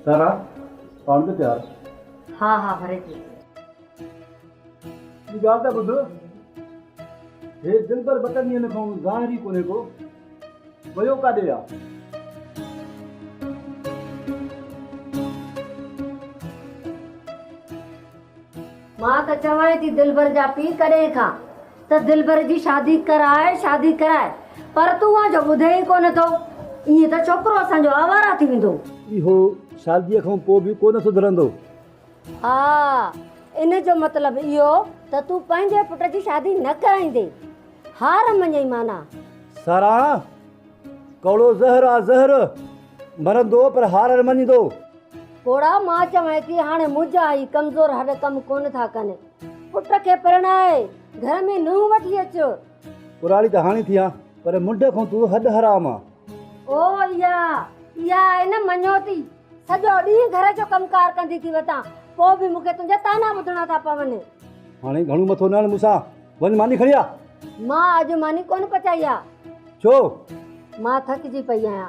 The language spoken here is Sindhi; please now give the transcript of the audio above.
سارا پاڻ به تيار. ها ها ڀري ٿي. ٻي ڳالهه ته ٻڌ. هي دلبر ٻه ٽن ڏينهن کان ظاهر ئي ڪونهي ڪو. ويو ڪاڏي آ؟ مان ته چوانء ٿي دلبر جا پيء ڪڏهن کان ته دلبر جي شادي ڪراء شادي ڪراء پر تون آ جو ٻڌين ئي ڪونه ٿو ائين ته ڇوڪرو اسان جو آواره ٿي ويندو. اهو شاديء کان پوء به ڪونه سڌرندو. ها ان جو مطلب اهو ته تون پنهنجي پٽ جي شادي نه ڪرائيندين. هار مڃئي معنيٰ. ساران، ڪوڙو زهر آ زهر. مرندو پر هار نه مڃيندو. ڪوڙا مان چوانء ٿي هاڻي منهنجا هي ڪمزور هڏ ڪم ڪونه ٿا ڪن. پٽ کي پرڻائي گهر ۾ نونهن وٺي اچ. ڪراڙي ته هاڻي ٿي آن پر منڍ کان تون هڏ حرام آن. او اها اها آهي نه مڃوتي. سڄو ڏينهن گهر جو ڪم ڪار ڪندي ٿي وتان پوء به مون کي تنهنجا طعنا ٻڌڻا ٿا پون. هاڻي گهڻو مٿو نه هڻ مون سان. وڃ ماني کڻي آ. مان اڄ ماني ڪونه پچائي آ. ڇو؟ مان ٿڪجي پئي آهيان.